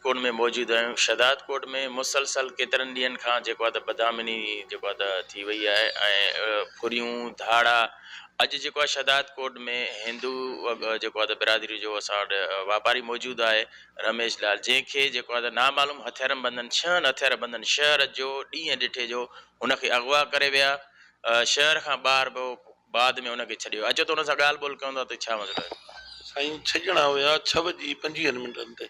ڪوٽ ۾ موجود آهيون شھداد ڪوٽ ۾ مسلسل ڪيترن ڏينهن کان جيڪو آهي ته بدامني جيڪو آهي ته ٿي وئي آهي ۽ ڦريون ڌاڙا اڄ جيڪو آهي شھداد ڪوٽ ۾ ھندو جيڪو آهي ته برادري جو اسان وٽ واپاري موجود آهي رميش لال جنهن کي جيڪو آهي ته نامعلوم ھٿيارن بندن ڇهن ھٿيار بندن شهر جو ڏينهن ڏٺي جو ھن کي اغوا ڪري ويا شهر کان ٻاهر به بعد ۾ ان کي ڇڏيو اچو ته ان سان ڳالهه ٻولهه ڪيون ٿا ته ڇا مسئلو آهي؟ سائين ڇڄڻا هيا ڇهه وڄي پنجويهن منٽن تي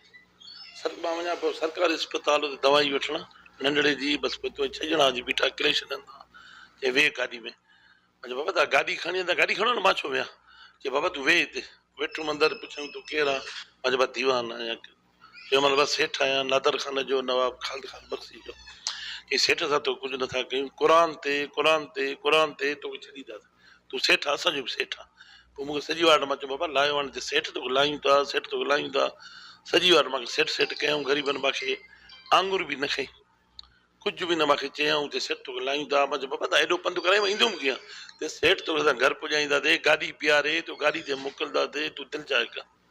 سر مان وڃان پيو سرڪاري اسپتال اتي دوائي وٺڻ ننڍڙي جي بس پوء ڇڄڻا جي بيٺا ڪري ڇڏن ٿا چي ويهه گاڏي ۾ مان چيو بابا تان گاڏي کڻي ايندا گاڏي کڻو نه مان ڇو ويهان چي بابا تون ويهه هتي ويٺم اندر پڇيائون تون ڪير آن مان چيو مان ديوان آهيان جنهن مهل بس هيٺ آيان، نادر خان جو نواب خالد خان بخشي چيو، ڪنهن سيٺ سان تو ڪجهه نٿا ڪيون، قرآن تي، قرآن تي، قرآن تي تو کي ڇڏي ڏينداسين، تون سيٺ آهين، اسان جو به سيٺ آهين. پوء مون کي سڄي واٽ مان چيو، بابا لايو هاڻي ته سيٺ تو کي لايون ٿا، سيٺ تو کي لايون ٿا. سڄي واٽ مان کي سيٺ سيٺ ڪيائون، غريبن مان کي آڱر به نه کنئي، ڪجهه به نه مان کي چيائون ته سيٺ تو کي لايون ٿا. مان چيو، بابا تان ايڏو پنڌ ڪرايو، مان ايندو به ڪيئن؟ چيس، سيٺ تو کي اسان گهر پڄائينداسين، گاڏي بيهاري تو کي گاڏي تي موڪلنداسين، تون دل چاهي ڪر.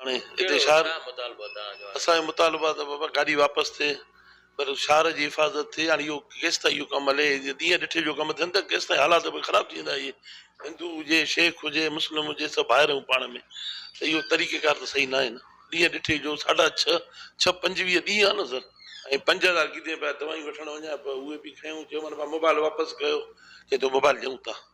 هاڻي هتي شهر اسان جو مطالبو آهي ته بابا گاڏي واپس ٿئي پر شهر جي حفاظت ٿئي هاڻي اهو ڪيستائين اهو ڪم هلي جي ڏينهن ڏٺي جو ڪم ٿين ته ڪيستائين حالات به خراب ٿي ويندا اهي هندو هجي شيخ هجي مسلم هجي سڀ ڀائر آهيون پاڻ ۾ ته اهو طريقه ڪار ته صحيح ناهي نه ڏينهن ڏٺي جو ساڍا ڇهه ڇهه پنجويهه ڏينهن آهي نه سر ۽ پنج هزار ڪيڌين پيا دوائيون وٺڻ وڃان پيو اهي به کنيون چيومانس موبائل واپس ڪيو چئي ٿو موبائل ڏيون ٿا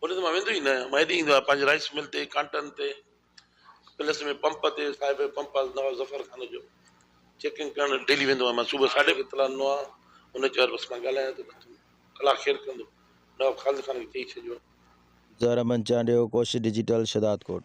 هونئن ته مان ويندو ئي نه آهيان. مان هيڏي ايندو آهيان پنهنجي رائيس مل تي، ڪانٽن تي، پلس ۾ پمپ تي، صاحب پمپ آهي نواب ظفر خان جو، چيڪنگ ڪرڻ ڊيلي ويندو آهيان مان صبح ساڍي اطلاع ڏنو آهي، هن چيو بس مان ڳالهايان ٿو بس الله خير ڪندو، نواب خالد خان کي چئي ڇڏيو. زهره منچانڊيو، ڪوشش ڊجيٽل، شهدادڪوٽ.